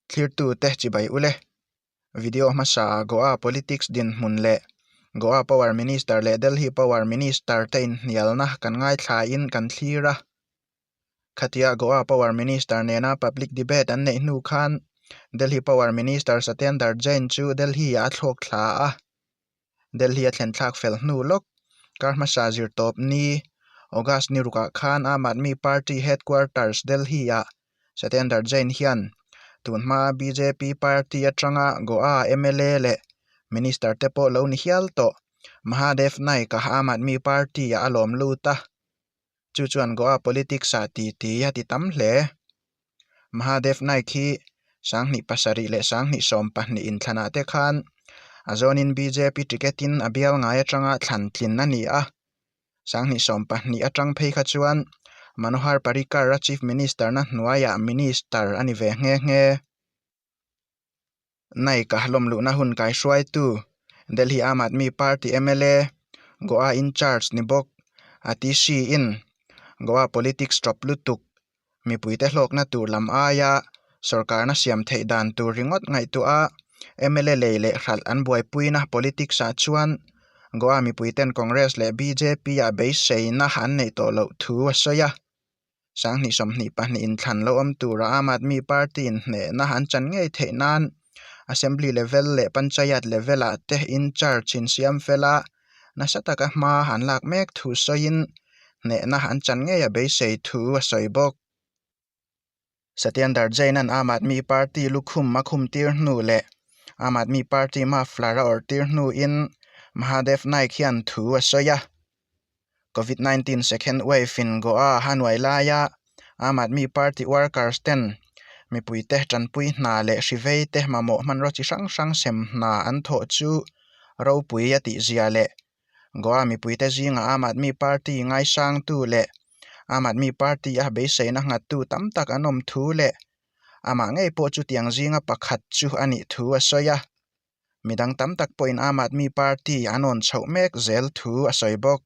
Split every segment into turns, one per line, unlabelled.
Thlirtute chibai u le. Video hmasa Goa politics dinhmun leh Goa power minister leh Delhi power minister te inhnialna kan ngaithlaiin kan thlir a. Khatia Goa power minister nena public debate an neih hnu khan Delhi power minister Satyendar Jain chu Delhi-ah a thlawk thla a. Delhi-a thlenthlak fel hnu lawk. Kar hmasa zirtawp ni August ni ruk ah khan Aam Aadmi Party Headquarters Delhi-ah Satinder Jain hian tun hmaa bjp party atanga Goa mla leh Minister te pawh lo ni hial tawh Mahadev Naik-a Aam Aadmi Party-ah a lawm lut a. chu chuan Goa politics ah ti ti a ti tam hle. Mahadev Naik hi sanghnih pasarih leh sanghnih sawm pahnih in thlanah te khan a zawnin bjp ticket in a bial ngai atanga thlan tlin a ni a. Sanghnih sawm pahnih atang phei kha chuan Manohar Parrikar-a Chief Minister-na hnuaiah Minister a ni ve nghe nghe. Naika hlawm luhna hun kaihruaitu Delhi Aam Aadmi Party mla Goa Incharge ni bawk a ti si in Goa politics tawp lutuk mipuite hlawkna tur lam aia sorkarna siam theih dan tur ringawt ngaihtu a mla lei leh hralh an buaipuina politics ah chuan Goa mipuiten Congress leh bjp ah beiseina an neih tawh loh thu a sawi a. Sang hnih sawmhnih pahnih in thlan lo awm tura Aam Aadmi Party in hnehna han chan ngei theih nan Assembly level leh Panchayat level ah te in charge in siam fel a nasa taka hma han lak mek thu sawiin hnehna han chan ngeia beisei thu a sawi bawk. Satyendar Jain-a'n Aam Aadmi Party lukhum a khum tir hnu leh Aam Aadmi Party muffler a awrh tir hnuin Mahadev Naik hian thu a sawi a, Covid nineteen second wave-in Goa a hanuai laia Aam Aadmi Party workers-ten mipuite tanpui hna leh hriveite mamawh hmanraw chi hrang hrang sem hna an thawh chu ropui a tihzia leh Goa mipuite zingah Aam Aadmi Party ngaisangtu leh Aam Aadmi Party a beiseina nghattu tam tak an awm thu leh amah ngei pawh chutiang zinga pakhat chu a nih thu a sawi a. Midang tam tak pawhin Aam Aadmi Party an awn chhoh mek zel thu a sawi bawk.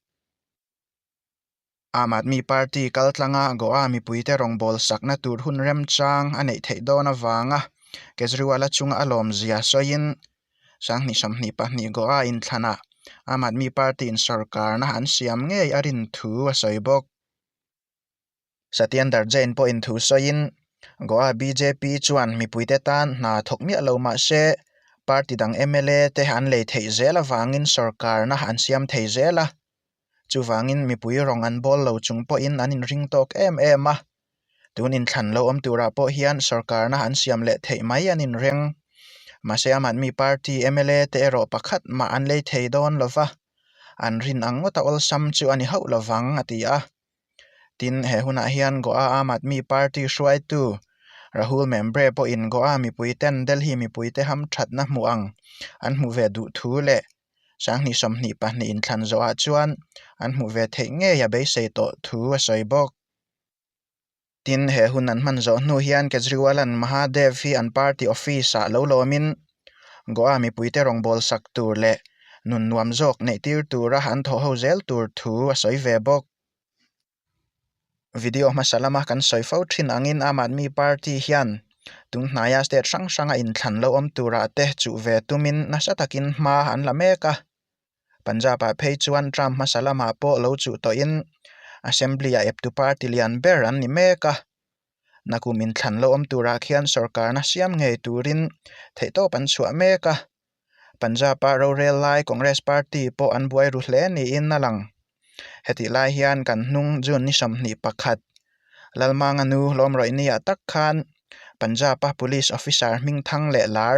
Aam Aadmi Party kaltlanga Goa mipuite rawngbâwl sakna tûr hun remchâng a neih theih dâwn avânga Kejriwal-a chunga a lâwmzia sawiin Sanghnih sawmhnih pahnih Goa inthlanah Aam Aadmi Party-in sawrkârna an siam ngei a rinthu a sawi bawk. Satyendar Jain pawhin thu sawiin, Goa bjp chuan mipuite tan hna thawk miah lo mahse, party dang mla te an lei theih zel avangin sorkarna an siam thei zel a, chuvangin mipui rawng an bawl lo chung pawhin an inring tawk em em a, tun inthlan lo awm turah pawh hian sorkarna an siam leh theih mai an inreng. Mahse ama'n mi party mla te erawh pakhat mah an lei thei dawn lova, an rin ang ngawta awlsam chu a ni hauh lovang, a ti a. Tin, he hunah hian Goa Aam Aadmi Party hruaitu Rahul Membre pawhin Goa mipuiten Delhi mipuite ham thatna hmuh ang an hmu ve duh thu leh Sanghnih sawmhnih pahnih inthlan zawhah chuan an hmu ve theih ngei a beisei tawh thu a sawi bawk. Tin, he hun an hman zawh hnu hian Kejriwalan Mahadev hi an party office-ah lo lawmin Goa mipuite rawngbâwl sak tur leh nun nuam zawk neih tir tura an thawh ho zel tur thu a sawi ve bawk. Video hmasa lama kan sawi fo thin angin Aam Aadmi Party hian tun hnaia state hrang hranga inthlan lo awm tura te chuh ve tumin nasa takin hma an la mek a. Punjab-ah phei chuan Trump hmasa lamah pawh lo chuh tawhin Assembly-ah eptu party lian ber an ni mek a. Na kum inthlan loh awm turah khian sorkarna siam ngei turin theihtawp an chhuah mek a. Punjab-a rorel lai Congress party pawh an buai ru hle niin a lang. Hetih lai hian kan hnung June ni sawmhnih pakhat, Lalmanga nu Lawmrawihnia tak khan Punjab-a police officer hming thang leh lar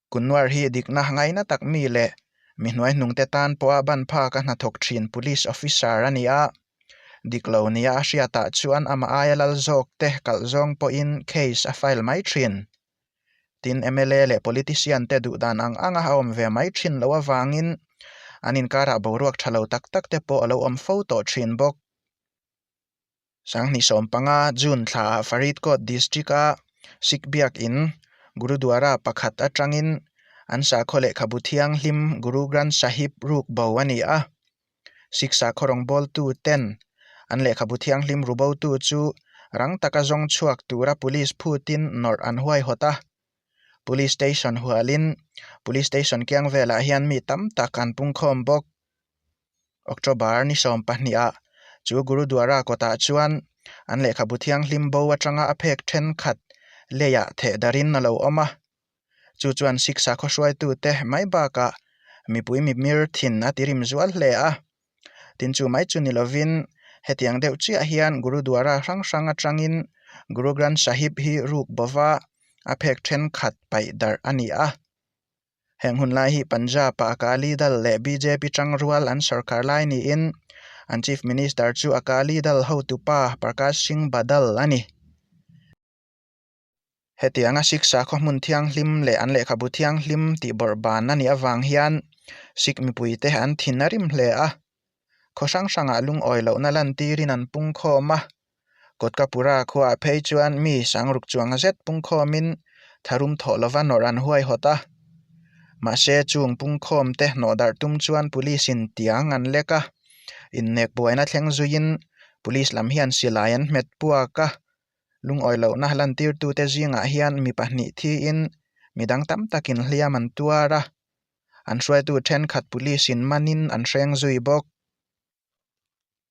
Kunnuar hi dikna ngaina tak mi leh mi hnuai hnungte tan pawha ban phak a hnathawk thin police officer a ni a. Dik lo nia a hriatah chuan amah aia lal zawk te kalh zawng pawhin case a file mai thin. Tin, mla leh politician te duh dan ang anga a awm ve mai thin loh avangin an inkarah boruak tha lo tak tak te pawh a lo awm fo tawh thin bawk. Sanghnih sawm panga June thlaah Faridkot District-a Sikh biakin Gurudwara pakhat atangin an sakhaw lehkhabu thianghlim Guru Granth Sahib ruk bo a ni a. Sikh sakhaw rawngbawltu ten an lehkhabu thianghlim rubotu chu rang taka zawng chhuak tura Police phutin nawrh an huaihawt a. Police station hualin Police station kiang velah hian mi tam tak an pungkhawm bawk. October ni sawm pahnih ah chu Gurudwara kawtah chuan an lehkhabu thianghlim bo atanga a phek thenkhat lei ah theh dar in a lo awm a, chu chuan Siksa khawhruaitu te mai bak ah mipui mimir thin a ti rim zual hle a. Tin chu mai chu ni lo in hetiang deuh chiah hian Gurudwara hrang hrang atang in Guru Granth Sahib hi ruk bova a phek thenkhat paih darh a ni a. Heng hun lai hi Punjab-a Akali Dal leh bjp chang rual an sawrkar lai niin an Chief Minister chu Akali Dal hotupa Prakash Singh Badal a ni. Hetianga Siksa khawhmun thianghlim leh an lehkhabu thianghlim tihbawrh ban a nih avang hian Sikh mipuite an thin a rim hle a. Khaw hrang hrangah lungawi lohna lantîrin an pungkhâwm a. Kotkapura khuaah phei chuan mi sang ruk chuang zet pungkhâwmin tharum thawh lova nawrh an huaihawt a. Mahse, chûng pungkhâwmte hnawh darh tum chuan police-in tiang an lek a. Innek buaina thleng zuiin police lam hian silai an hmet puak a. Lungawi lohna lantîrtute zîngah hian mi pahnih thiin midang tam takin hliam an tuar a. an hruaitu thenkhat police in manin an hreng zui bawk.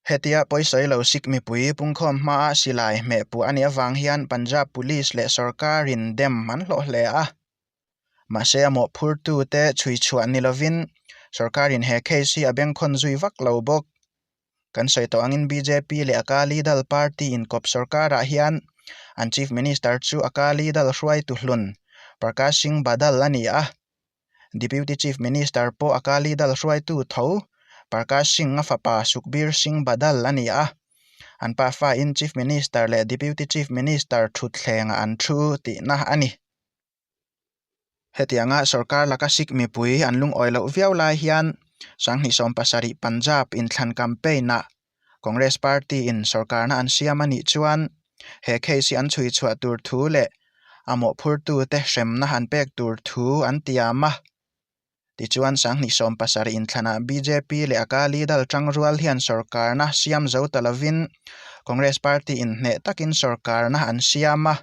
Hetia pawisawi lo Sikh mipui pungkhawm hmaa silai hmehpuah a nih avang hian Punjab police leh sawrkarin dem an hlawh hle a. Mahse a mawhphurtute chhuichhuah ni lovin sawrkarin he case hi a bengkhawn zui vak lo bawk. Kan sawi tawh angin bjp leh akali dal party inkawp sorkarah hian an chief minister chu akali dal hruaitu hlun Prakash Singh Badal a ni a, deputy chief minister pawh akali dal hruaitu tho Prakash Singh-a fapa Sukhbir Singh Badal a ni a. An pa fain chief minister leh deputy chief minister thutthlengah an thu tihna a ni. Hetianga sorkar laka Sikh mipui an lungawi loh viau lai hian Sanghnih sawm pasarih Punjab in thlan campaign ah Congress party in sorkarna an siam anih chuan he case hi an chhui chhuah tur thu leh a mawhphurtu te hremna an pek tur thu an tiam a. Tichuan Sanghnih sawm pasarih in thlan ah bjp leh Akali Dal tang rual hian sorkarna siam zo ta lovin Congress party in hneh takin sorkarna an siam a.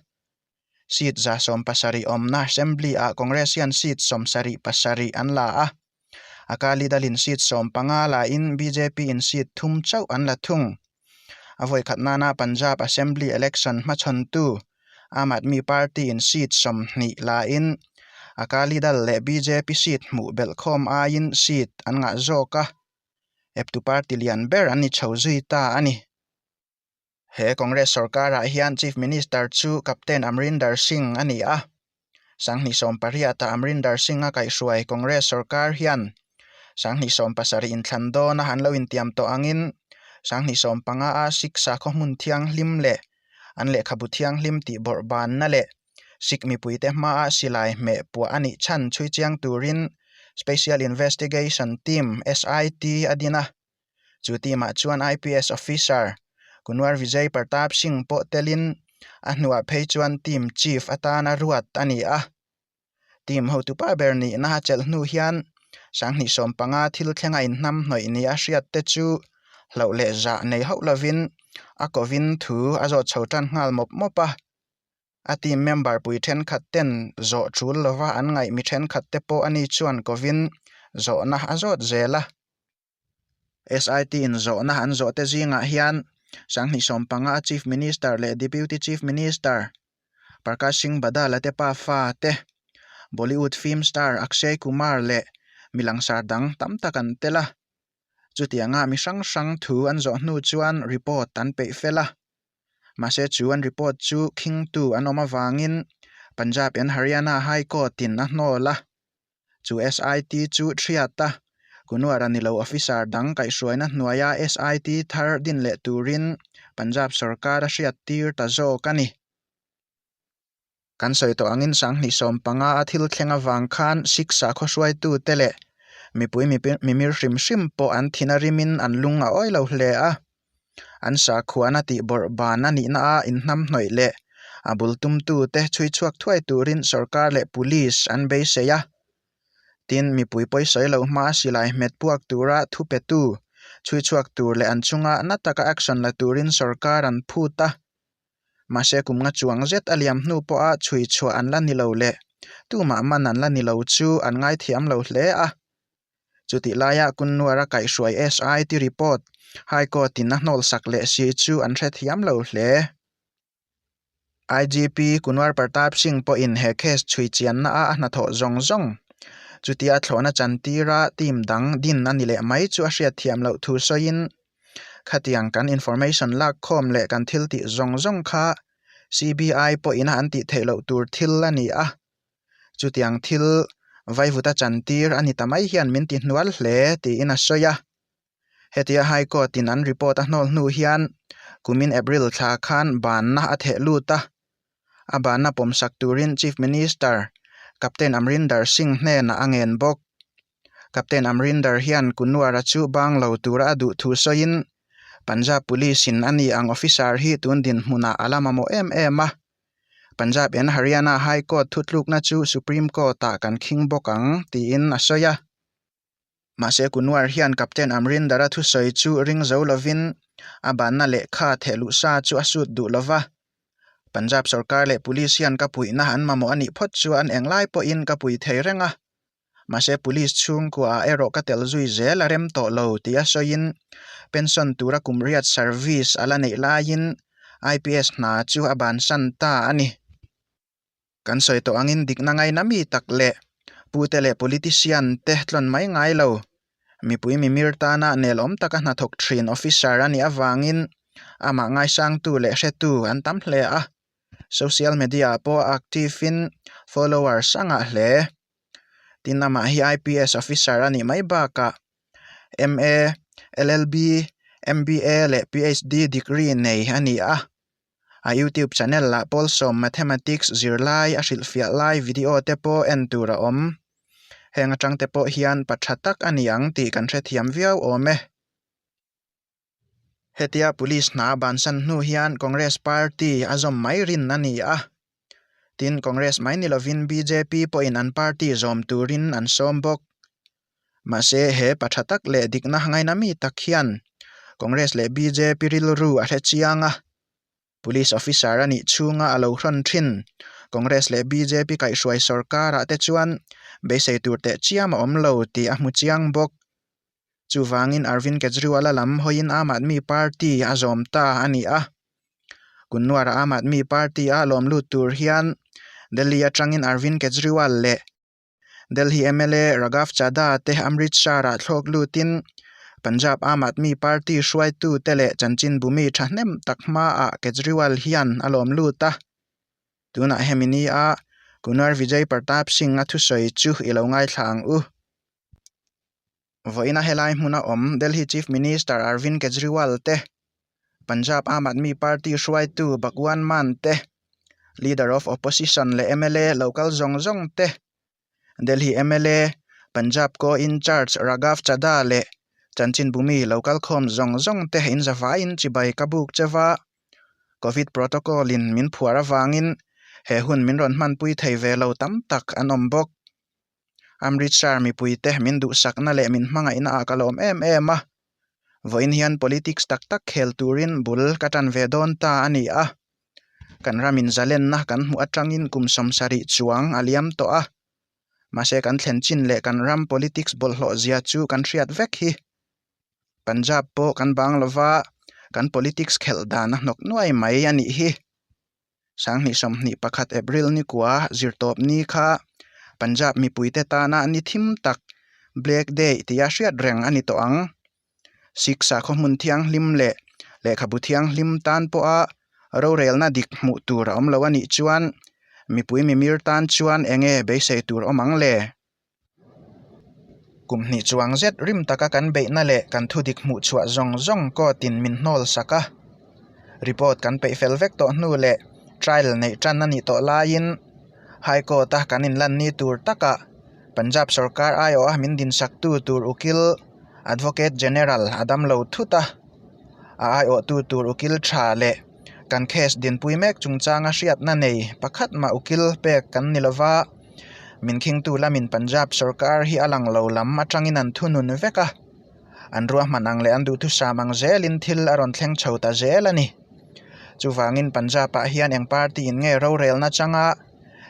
seat za sawm pasarih awmna assembly ah congress hian seat sawmsarih pasarih an la a, Akali Dal in seat sawm panga la in bjp in seat thum chauh an la thung. A vawikhat nana Punjab assembly election hmachhawntu Aam Aadmi Party in seat sawmhnih la in Akali Dal leh bjp seat hmuh belh khawm aiin seat an ngah zawk a, eptu party lian ber an ni chho zui ta a ni. He Congress sawrkarah hian Chief Minister chu Captain Amrinder Singh a ni a. Sanghnih sawm pariata Amrinder Singh a kaihhruai Congress sawrkar hian Sanghnih sawm pasarih inthlan dawna an lo intiam tawh angin Sanghnih sawm panga a Siksa khawhmun thianghlim leh an lehkhabu thianghlim tih bawrhbanna leh Sikh mipuite hmaa silai hmeh puah a nih chhan chhui chiang turin Special Investigation Team, SIT, a din a. Chu team ah chuan IPS Officer Kunwar Vijay Partap Singh pawh telin a hnuah phei chuan team chief atan a ruat a ni a. Team hotu pa ber nihna a chelh hnu hian Sanghnih sawm panga thil thlenga inhnam hnawih nih a hriat te chu hlauh leh zah nei hauh lovin a kovin thu a zawt chho tan nghal mawp mawp a. A team member pui thenkhat ten zawh chul lova an ngaih mi thenkhat te pawh a ni chuan kovin zawhna a zawt zel a. SIT in zawhna an zawh te zingah hian Sanghnih sawm panga a Chief Minister leh Deputy Chief Minister Parkash Singh Badal a te pa fa te, Bollywood film star Akshay Kumar leh mi langsar dang tam tak an tel a. Chutianga mi hrang hrang thu an zawh hnu chuan report an peih fel a. Mahse chuan report chu khingtu an awm avangin Punjab and Haryana High Court in a hnawl a. Chu SIT chu hriat a, Kunuar a ni lo officer dang kaihhruaina hnuaia SIT thar din leh turin Punjab sawrkar a hriat tir ta zawk a ni. Kan sawi tawh angin sanghnih sawm panga a thil thleng avang khan siksa khawhruaitute leh mipui mimir hrim hrim pawh an thina rimin an lung a awilo hle a. An sakhuana tihbawrh ban a nihna a inhnamhnawih leh a bul tumtute chhuichhuak thuai turin sorkar leh police an beisei a. Tin, mipui pawisawi lo hma a silai hmet puak tura thupetu, chhuichhuak tur leh an chunga na taka action la turin sorkar an phut a. Mahse kum nga chuang zet a liam hnu pawha chhui chhuah an la ni lo le, tumah man an la ni lo chu an ngaithiam lo hle a. Chutih laiah Kunnuara kaihhruai SIT report High Court in a hnawlsak leh si chu an hrethiam lo hle. IGP Kunwar Partap Singh pawhin he case chhui chianna a a hnathawh zawng zawng. Chutia thlawhna chantira team dang din a ni leh mai chu a hriatthiam loh thu sawiin Khatiang kan information lak khawm leh kan thil tih zawng zawng kha CBI pawhin an tih theih loh tur thil a ni a, chutiang thil vaivuta chantir a ni ta mai hian min ti hnual hle, tiin a sawi a. Hetia High Court in an report a hnawl hnu hian kumin April thla khan banna a theh lut a. a bahna pawmsak turin Chief Minister Captain Amrinder Singh hnenah a ngen bawk. Captain Amrinder hian Kunwar-a chu bang lo tura a duhthu sawiin Punjab Police-in a ni ang officer hi tun dinhmunah a lam a mawh em em a. Punjab and Haryana High Court thutlukna chu Supreme Court-ah kan khing bawk ang, tiin a sawi a. Mahse Kunwar hian Captain Amrindara thusawi chu ring zo lovin a banna lehkha thehluh sa chu a sut duh lo va. Punjab sorkar leh police hian ka puihna an mamawh a nih phawt chu an eng lai pawhin ka pui thei reng a. Mahse police chhungkua ah erawh ka tel zui zel a rem tawh lo tih a sawiin pension tura kum riat service a la neih laiin IPS hna chu a ban san ta a ni. Kan sawi tawh angin dikna ngaina mi tak leh pu te leh politician te tlawn mai ngai lo. Mipui mimir tana nelawm taka hnathawk thin officer a nih avangin amah ngaisangtu leh hretu an tam hle a. Social media pawh active in followers a ngah hle. Tin, amah hi IPS officer a nih mai bakah MA, LLB, MBA leh PHD degree nei a ni a. A YouTube channel lah Pawlsawm Mathematics zirlai a hrilhfiah lai video te pawh en tur a awm. Heng atang te pawh hian pa tha tak a ni ang tih kan hrethiam viau awm e. Hetia Police hna bansan hnu hian Congress Party a zawm mai rin a ni a. Tin, Congress mai ni lovin bjp pawhin an party zawm turin an sawm bawk. Mahse, he pa tha tak leh dikna ngaina mi tak hian Congress leh bjp rilru a hre chiang a. Police officer a nih chhunga a lo hrawn thin Congress leh bjp kaihhruai sorkar ah te chuan beisei tur teh chiam a awm lo tih a hmu chiang bawk. Chuvangin Arvind Kejriwal-a lam hawiin Aam Aadmi Party a zawm ta a ni a. Kunnuara Aam Aadmi Party-a lawm lut tur hian Delhi atangin Arvind Kejriwal leh Delhi mla Raghav Chadha te Amrit Shah-ah thlawk lutin Punjab Aam Aadmi Party hruaitute leh chanchin bumi tha hnem tak hmaah Kejriwal hian a lawm lut a. Tunah hemi nia Kunwar Vijay Pratap Singh-a thusawi chu i lo ngaithla ang u. vawiina helai hmuna awm Delhi Chief Minister Arvind Kejriwal te, Punjab Aam Aadmi Party hruaitu Bhagwan Mann te, Leader of Opposition leh mla lo kal zawng zawng te, Delhi mla Punjab Co-Incharge Raghav Chadha leh Chanchin Bhumi lo kal khawm zawng zawng te in zavaiin chibai ka buk che va, Covid protocol in min phuar avangin he hun min rawn hmanpui thei ve lo tam tak an awm bawk. Amritsar mipui te min duhsakna leh min hmangaihna ah ka lawm em em a, vawiin hian politics tak tak khel turin bul ka tan ve dawn ta a ni a, kan ram in zalenna kan hmuh atangin kum sawmsarih chuang a liam tawh a, mahse kan thlen chin leh kan ram politics bawlhhlawh zia chu kan hriat vek hi. Punjab pawh kan bang lova kan politics khelh dan a hnawk nuai mai a nih hi. Sanghnih sawmhnih pakhat April ni kua zirtawp ni kha Punjab mipuite tana ni thim tak Black Day tia hriat reng a ni tawh ang. Sikh sakhaw hmun thianghlim leh lehkhabu thianghlim tan pawha rorelna dik hmuh tur a awm lo a nih chuan mipui mimir tan chuan enge beisei tur awm ang le? kum hnih chuang zet rim taka kan beihna leh kan thu dik hmuh chhuah zawng zawng kawtin min hnawl sak a, report kan peih fel vek tawh hnu leh trial neih tan a nih tawh laiin High Court a kan inlanni tur takah Punjab sawrkar aiawh a min dinhsaktu tur Ukil Advocate General a dam lo thut a, a aiawhtu tur Ukil tha leh. kan case dinpui mek chungchanga hriatna nei pakhat mah ukil pek kan ni lova, min khingtu lamin Punjab sorkar hi a lang lo lam atangin an thunun vek a, an ruahman ang leh an duhthusam ang zelin thil a rawn thleng chho ta zel a ni. Chuvangin Punjab-ah hian eng party in nge rorelna changa,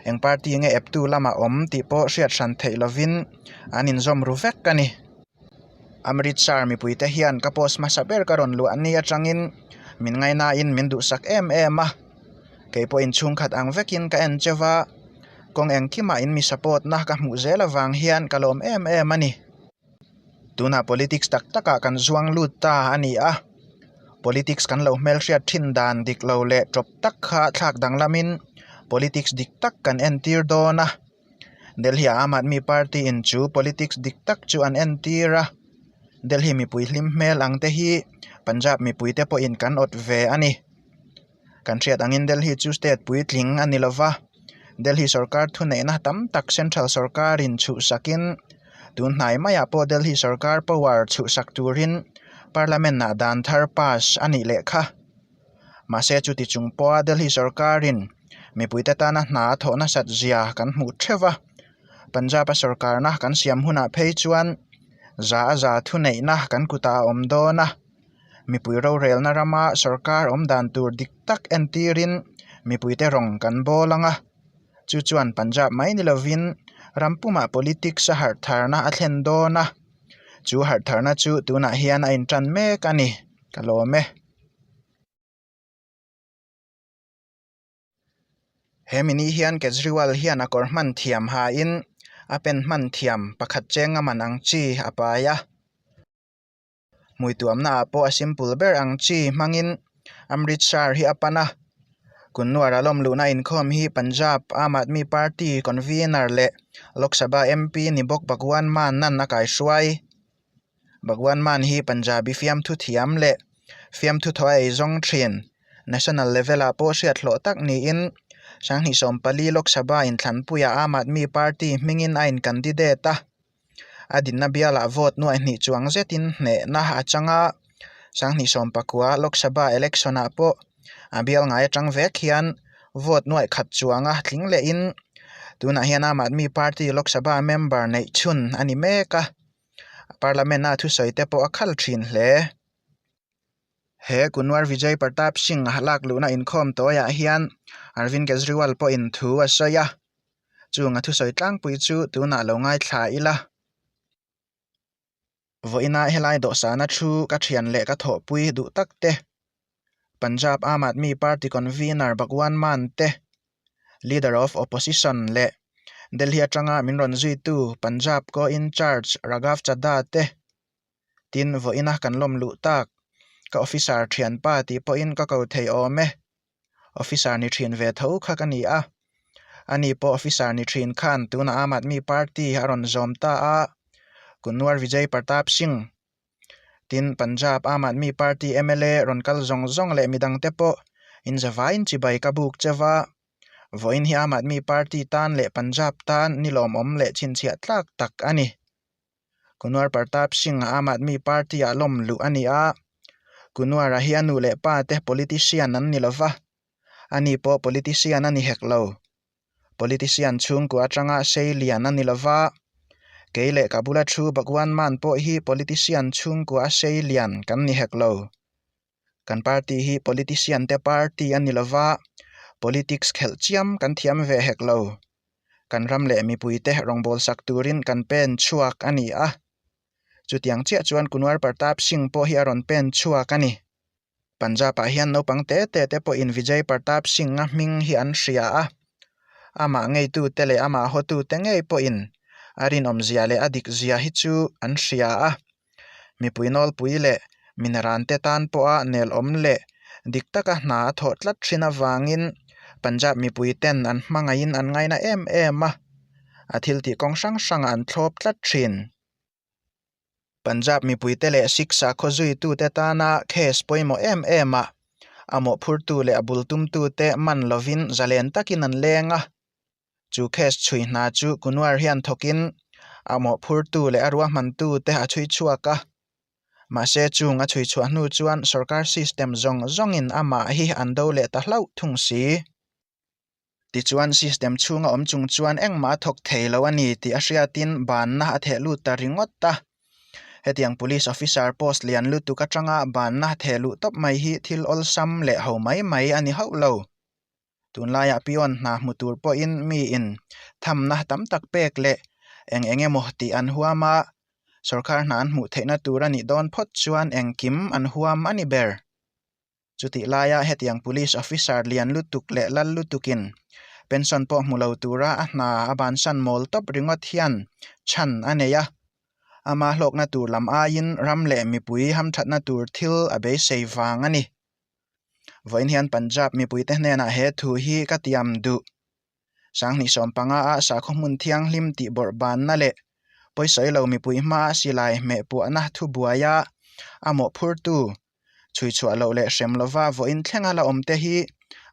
eng party nge eptu lamah awm tih pawh hriat hran theih lovin an inzawm ru vek a ni. Amritsar mipui te hian ka post hmasa ber ka rawn luah a ni atangin min ngai nain min duhsak em em a, keipawh in chhungkhat ang vekin ka en che va, kawng engkimah in mi support na ka hmuh zel avang hian ka lawm em em a ni. Tunah politics tak takah kan zuang lut ta a ni a, politics kan lo hmelhriat thin dan dik lo leh tawp tak kha thlak danglamin politics dik tak kan entir dawn a, Delhi a Aam Aadmi Party in chu politics dik tak chu an en tir a, Delhi mipui hlim hmel ang te hi Punjab mipui te pawhin kan awt ve a ni. Kan hriat angin Delhi chu state puitling a ni lo va, Delhi sawrkar thuneihna tam tak central sawrkarin chhuhsakin tunhnai maiah pawh Delhi sawrkar power chhuhsak turin parliament ah dan thar pass a nih leh kha. Mahse chuti chung pawha Delhi sawrkarin mipuite tana hna a thawh nasat zia kan hmuh theuh a. Punjab-a sawrkarna kan siam hunah phei chuan za a za thu neihna kan kutah a awm dawn a. Mipui rorelna rama sawrkar awm dan tur dik tak en tirin mipuite rawng kan bawl ang a. Chu chuan Punjab mai ni lovin ram pumah politics a harh tharna a thlen dawn a. Chu harh tharna chu tunah hian a inṭan mek a ni ka lawm e. He mini hian Kejriwal hian a kawr hman thiam hain a pen hman thiam pakhat cheng a man ang chi a pai a. Hmuituamnaah pawh a simple ber ang chi hmangin Amritsar hi a pan a. Kunnuara lawm luhna inkhawm hi Punjab Aam Aadmi Party convener leh Lok Sabha MP ni bawk Bhagwan Mannan a kaihruai. Bhagwan Mann hi Punjabi fiamthu thiam leh fiamthu thaw a ei zawng thin. National level-ah pawh hriathlawh tak niin Sanghnih Sawmpali Lok Sabha inthlanpuiah Aam Aadmi Party hmingin a incandidate a. A dinna bialah vote nuaihnih chuang zetin hnehna a chang a. Sanghnih Sawmpakua Lok Sabha election-ah pawh a bial ngai atang vek hian vote nuaih khat chuanga tling lehin tunah hian Aam Aadmi Party Lok Sabha member neih chhun a ni mek a. Parliament a thusawi te pawh a khal thin hle. He Kunwar Vijay Pratap Singh a lak luhna inkhawm tawiah hian Arvind Kejriwal pawhin thu a sawi a, chung a thusawi tlangpui chu tunah lo ngaithla ila. Vawiina helai dawhsana thu ka thian leh ka thawhpui duh takte. Punjab Aam Aadmi Party Convener Bhagwan Mann te, Leader of Opposition leh Delhi atanga min rawn zuitu Punjab Co-Incharge Raghav Chadha te tin vawiina kan lawm luh tak, ka Officer thian pa tih pawhin ka ko thei awm e, Officer ni thin ve tho kha ka ni a, ani pawh Officer ni thin khan tunah Aam Aadmi Party a rawn zawm ta a, Kunwar Vijay Pratap Singh Tin, Punjab Aam Aadmi Party mla rawn kal zawng zawng leh mi dangte pawh inzavain chibai ka buk che va, vawiin hi Aam Aadmi Party tan leh Punjab tan ni lawmawm leh chhinchhiah tlak tak a ni. Kunwar Partap Singh Aam Aadmi Party-ah lawm luh a ni a, Kunwar-a hi a nu leh pa te politician an ni lo va, ani pawh politician a ni hek lo. Politician chhungkua atanga sei lian a ni lo va, kei leh ka bula thu Bhagwan man pawh hi Politician chhungkua a sei lian kan ni hek lo. Kan party hi Politician te party a ni lo va, Politics khelh chiam kan thiam ve hek lo. Kan ram leh mipui te rawngbâwl sak turin kan pen chhuak a ni a. Chutiang chiah chuan Kunwar Partap Singh pawh hi a rawn pen chhuak a ni. Punjab-ah hian naupang te te te pawhin Vijay Partap Singh-a hming hi an hria a, amah ngeitute leh amah hawtute ngei pawhin a rinawmzia leh a dikzia hi chu an hria a. Mipui nawlpui leh minrante tan pawha nelawm leh dik taka hna a thawh tlat thin avangin Punjab mipuiten an hmangaihin an ngaina em em a, a thiltih kawng hrang hrangah an thlawp tlat thin. Punjab mipuite leh Sikh sakhaw zuitute tana case pawimawh em em a, a mawhphurtu leh a bul tumtute man lovin zalen takin an leng a. Chu case chhui hna chu Kunwar hian thawkin a mawhphurtu leh a ruahmantute a chhui chhuak a. Mahse, chung a chhui chhuah hnu chuan sorkar system zawng zawngin amah hi an do leh ta hlauh thung si. Tichuan, system chhunga awm chung chuan engmah a thawk thei lo a ni tih a hriatin banna a theh lut ta ringawt a. Hetiang police officer post lian lutuk atanga banna theh luh tawp mai hi thil awlsam leh ho mai mai a ni hauh lo. Tunlaiah peon hna hmu tur pawhin miin thamna tam tak pek leh eng eng emaw tih an huam a, sorkar hna an hmuh theihna tur a nih dawn phawt chuan engkim an huam a ni ber. Chutih laia hetiang police officer lian lutuk leh lal lutukin pension pawh hmu lo tura a hna a bansan mawl tawp ringawt hian chhan a nei a. Ama hlawkna tur lam aiin ram leh mipui hamthatna tur thil a beisei vang a ni. Vawiin hian Punjab mipuite hnenah he thu hi ka tiam duh. Sanghnih sawm panga a sakhaw hmun thianghlim tih bawrh banna leh pawisawi lo mipui hmaa silai hmehpuahna thu buaia a mawhphurtu, chhui chhuah loh leh hrem lova vawiin thlenga la awmte hi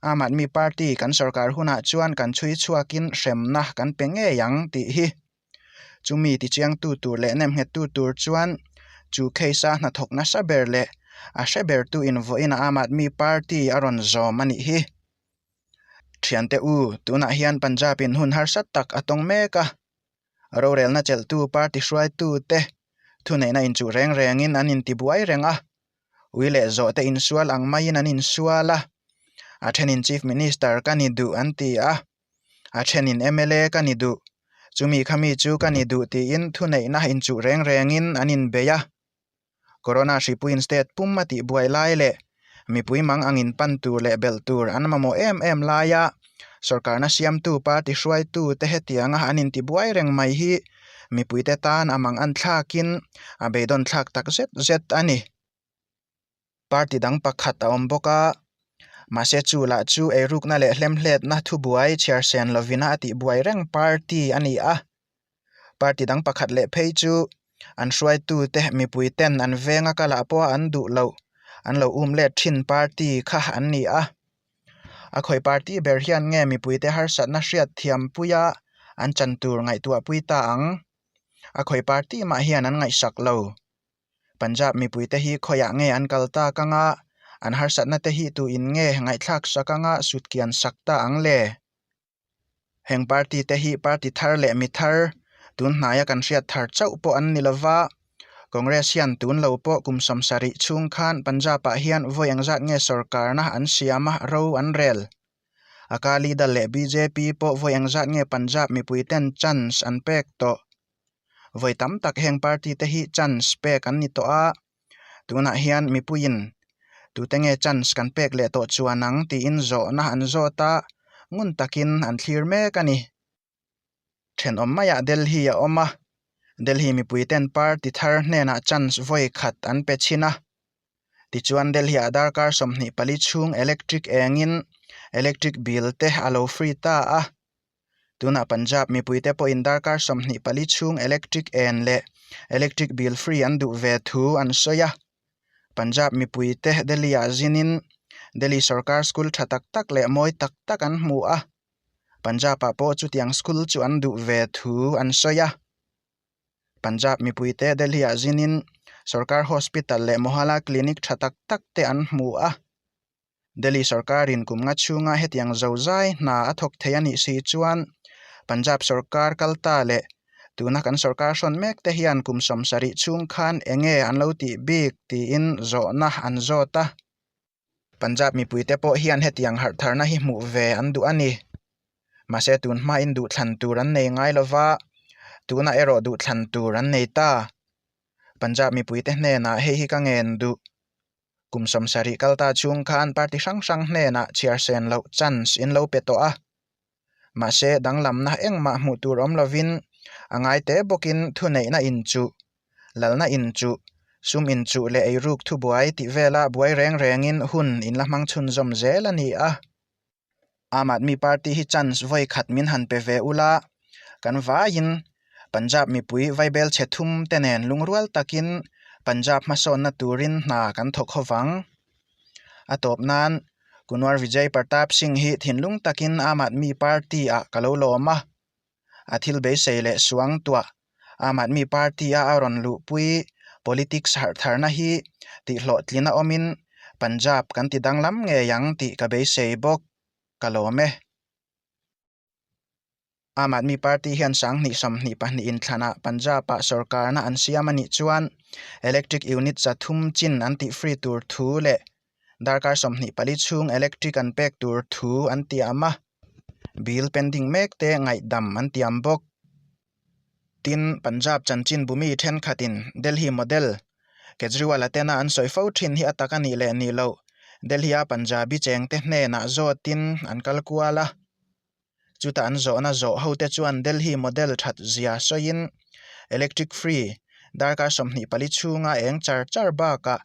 Aam Aadmi Party kan sorkar hunah chuan kan chhui chhuakin hremna kan pe ngei ang tih hi chumi tichiangtu tur leh nemnghettu tur chuan chu case-a hnathawk nasa ber leh a hre bertu in vawiin Aam Aadmi Party a rawn zawm a nih hi. Thiante U, tunah hian Punjab-in hun harsat tak a tawng mek a, rorelna chelhtu party hruaitute thuneihna in chu reng rengin an inti buai reng a, ui leh zawh te insual ang maiin an insual a, a thenin Chief Minister ka ni duh an ti a, a thenin mla ka ni duh, chumi kha mi chu ka ni duh tiin thuneihna in chu reng rengin an inbeih a. Corona hripuiin state pum a tihbuai lai leh mipui mang ang inpan tur leh belh tur an mamawh em em laia sorkarna siamtu party hruaitute hetianga an intibuai reng mai hi mipuite tan a mang anthlakin a beidawn thlak takzet zet a ni. party dang pakhat a awm bawk a, mahse chu lah chu eirukna leh hlemhletna thubuai chhiarsen lovina a tihbuai reng party a ni a, party dang pakhat leh phei chu an hruaitute mipuiten an venga kalah pawha an duh loh an lo um let thin party kha an ni a, a khawi party ber hian nge mipuite harsatna hriatthiampuia an chan tur ngaihtuahpui ta ang? A khawi party mah hian an ngaihsak lo. Punjab mipui te hi khawi ah nge an kal ta ka nga, an harsat na te hi tu in nge ngaihthlak sa ka nga sut kian sak ta ang le. Heng party te hi party thar leh mi thar tun hnai a kan hriat thar chauh pawh an ni lo va, Congress hian tun lo pawh kum samsa rih chhung khan Punjab ah hian vawi eng zat nge sawrkar na an siam a ro an rel. Akali dal leh bjp pawh vawi eng zat nge Punjab mipui ten chance an pek tawh, vawi tam tak heng party te hi chance pek an ni tawh a, tunah hian mipuiin tute nge chance kan pek leh tawh chuan ang tiin zawhna an zawt a, ngun takin an thlir mek a ni. Thenawm maiah Delhi a awm a, Delhi mipui ten party thar hnenah chance vawi khat an pe chhin a, tichuan Delhi-ah darkar sawmhnih pali chhung electric engin electric bill te a lo free ta a, Tunah Punjab mipuite pawhin darkar sawmhnih pali chhung electric en leh electric bill free an duh ve thu an sawi a. Punjab mipuite Delhi-ah zinin Delhi sawrkar school tha tak tak leh mawi tak tak an hmu a. Punjab-ah pawh chutiang school chu an duh ve thu an sawi a. Punjab mipuite Delhi-ah zinin sawrkar hospital leh Mohalla clinic tha tak tak te an hmu a. Delhi sawrkarin kumnga chhunga hetiang zozai hna a thawk thei a nih si i chuan Punjab sawrkar kal ta leh tuna kan sawrkar hrawn mek te hian kum sawmsa rih chhung khan eng nge an lo tih bik tiin zawhna an zawt a. Punjab mipui te pawh hian hetiang harh tharna hi hmuh ve an duh a ni. Mahse tun hmain duh thlan tur an nei ngai lo va, tunah erawh duh thlan tur an nei ta. Punjab mipui te hnenah hei hi ka ngen duh Kum sawmsarih kal ta chhung kha an party hrang hrang hnenah chhiarsen loh chance in lo pe tawh a. Mahse, danglamna engmah hmuh tur awm lovin a ngai te bawkin thuneihna inchuh, lalna inchuh, sum inchuh leh eiruk thubuai tih vela buai reng rengin hun in la hmang chhunzawm zel a ni a. Aam Aadmi Party hi chance vawi khat min han pe ve ula, kan vaiin Punjab mipui vaibel chhe thum te nen lungrual takin Punjab hmasawnna turin hna kan thawk haw vang. A tawp nan Kunwar Vijay Partap Singh hi thinlung takin Aam Aadmi Party ah ka lo lawm a, a thil beisei leh suang tuah aam aadmi party a a rawn luhpui politics harh tharna hi tihhlawhtlina awmin Punjab kan ti danglam ngei ang tih ka beisei bawk ka lawm e. Aam Aadmi Party hian sang hnih sawmhnih pahnih in thlanah Punjab-a sorkarna an siam a nih chuan electric unit za thum chin an tih free tur thu leh Darkar sawmhnih pali chhung electric an pek tur thu an tiam a, bill pen ding mek te ngaihdam an tiam bawk. Tin, Punjab chanchin Bhumi thenkhatin Delhi model Kejriwal-a tena an sawi fo thin hi a tak a nih leh nih loh Delhi-a Punjabi chengte hnenah zawtin an kal kual a. Chuta an zawhna zawh hote chuan Delhi model that zia sawiin electric free Darkar sawmhnih pali chhunga eng char char bakah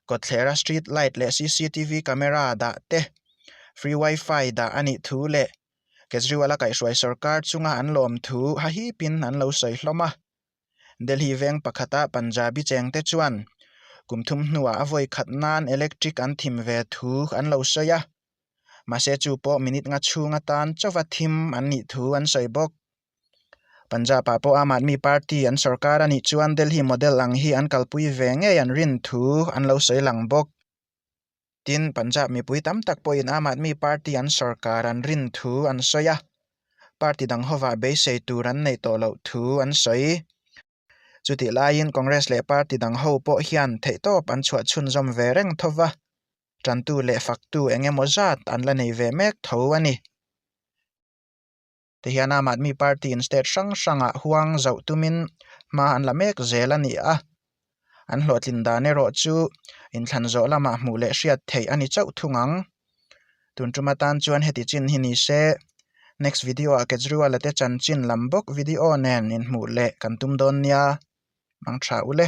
kawtthlera street light leh cctv camera dah te, free wifi dah a nih thu leh Kejriwal-a kaihhruai sawrkar chunga an lawm thu hahipin an lo sawi hlawm a. Delhi veng pakhata Punjabi chengte chuan kum thum hnuah a vawi khat nan electric an thim ve thu an lo sawi a, mahse chu pawh minute nga chhung atan chauva thim an nih thu an sawi bawk. Punjab-ah pawh Aam Aadmi Party an sawrkar a nih chuan Delhi model ang hi an kalpui ve ngei an rin thu an lo sawi lang bawk. Tin, Punjab mipui tam tak pawhin Aam Aadmi Party an sawrkar an rin thu an sawi a, party dang hovah beisei tur an neih tawh loh thu an sawi. Chutih laiin Congress leh party dang ho pawh hian theihtawp an chhuahchhunzawm ve reng tho va, tantu leh faktu eng emaw zat an la nei ve mek tho a ni. tihian aam aadmi party in state hrang hrang ah huang zauh tum in hma an la mek zel a ni a, an hlawhtlin dan erawh chu inthlan zawh lam ah hmuh leh hriat theih a ni chauh thung ang. Tun tum atan chuan heti chin hi ni se, next video ah Kejriwal a te chan chin lam bawk video nen in hmuh leh kan tum dawn nia, hmang tha u le.